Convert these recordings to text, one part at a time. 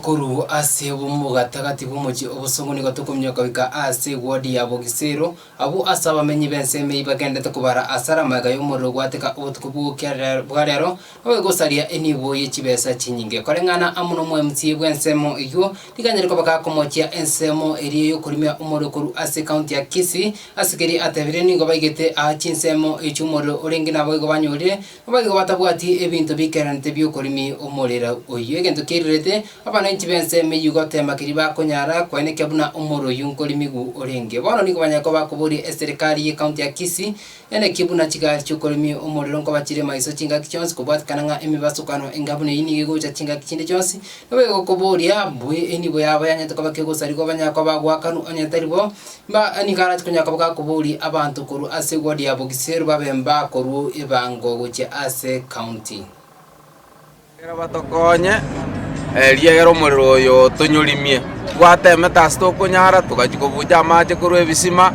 Okoruu ase obomo bogatagati bw'omochie obosongo nigo tokominyoka goika aase ewodi ya Bogisero, abwo ase abamenyi b'ensemo eyio bagenderete kobara asare amaega y'omorero ogwateka obotuko bw'ogokiarera bwa rero, nabo egosaria enibo ye chibesa chinyinge. Koreng'ana amo n'omwemusie bw'ensemo eyio, riganyire koba gakomochia ensemo eria y'okorimia omorero korwa ase ekaunti ya Kisii, ase keria atebirie nigo baigete aa chinsemo echi'omorero orenge naboigo banyorire Abwo igo batabwati ebinto bikeranete bi'okorimi omorera oyio, egento kirirete abananchi b'ense meyio gotema keria bakonyara koenekia buna omorero oyio nkorimigu orenge. Bono nigo banyare koba bakoboria eserekari y'ekaunti ya Kisii ere ki buna chigari chi'okorimi omorero nkoba chire maiso chingaki chionsi kobwatikana ng'a emebasukano enga buna eyio nigo egocha chingaki chinde chionsi. Nigo egokoboria, Mbu eyio nigo yabo yanyete koba kegosarigwa banyare koba bagoakanwa onye tari bo? Mba'abu nigo arache konya koba gakobooria abanto korwa ase eward ya Bogisiero babe mbakorwa ebango gochia ase county. Ekero batokonye, erio egera omorero oyo otonyorimie. Twatemete ase tokonyara, togachia kobucha amache korwa ebisima,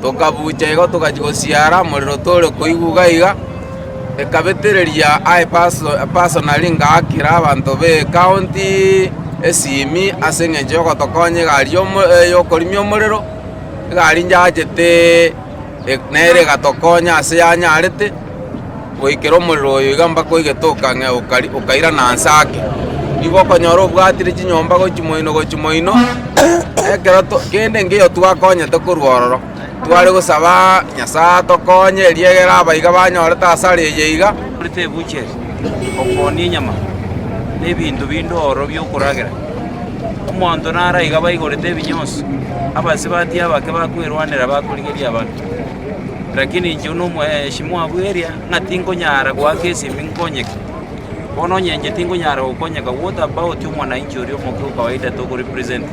tokabucha igo togachia gosiara, morero tore koigwa iga iga. ekabetereria Aepaso na Ringakira, abanto b'ekaonti esimi ase engencho y'ogotokonya egari y'okorimia omorero, egari nyaachete nere egatokonya ase yanyaarete goikera omorero oyo iga mpaka oigetoka ng'a okairana anse ake. Nigo okonyora obwatire chinyomba gochia moino gochia moino, ekero kende nkeiyo twakonyete korwa ororo. Tware gosaba Nyasae atokonye eriegere abaiga banyorete asare eye iga. Korete ebucheri, okoonia enyama, na ebinto binde oro bi'okoragera. Omonto naro aiga baigorete ebinyoosi, abasibati abake bakwerwanera bakorigeria abanto. Lakini inche buna omoyeshimwa bw'eria ng'a tinkonyara goaka esimi nkonyeke, bono onye inche tinkonyara gokonyeka, what about omwananchi oria omoke o kawaida tokorepresenta?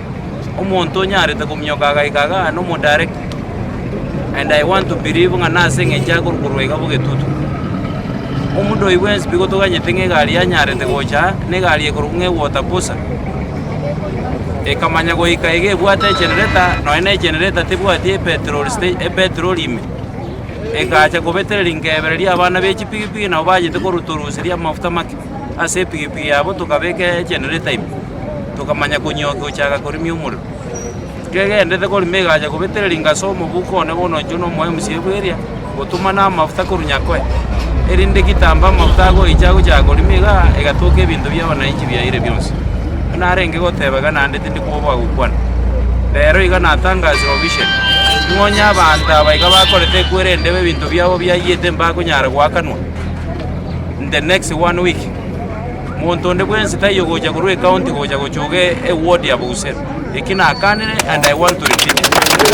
omonto onyarete kominyoka agaika iga aane omodirect, and I want to believe ng'a nase eng'encho aya korwa korwa iga bogetutu. Omonto oyi bwensi pi gotoganyete ng'a egari yanyarete gocha aa, na egari ekorokwa ng'a ewater cruiser, ekamanya goika iga ebwate egenerator, nonye na egenerator tebwati epetrol sta epetrol ime, egacha kobetereria nkebereria abana be chipigipigi nabo bachete korutoruseria amafuta make. Ase epigepige yabo tokabeka egenerator ime, tokamanya konyiookia gochaka korimia omorero. Kegenderete korima egacha kobetera ringasa omobuko one bono oinchwe nomoyo mosiebu eria, gotumana amafuta korwa Nyakoe, erinde gitambo amafuta agoicha agochaka korima igaa, egatoka ebinto bi'abananchi biayiire bionsi. Buna arenge goteba iga naende tindi kwoboa gokwana. Rero iga natangasire obisheri, ning'o onye abanto aba iga bakorete ekwere endebe ebinto biabo biayiyete mbakonyara goakanwa? In the next one week, monto onde bwensi taiyo gocha korwa ecounty gocha gochuga eward ya Bouser. Eki nakanire and I want to repeat it.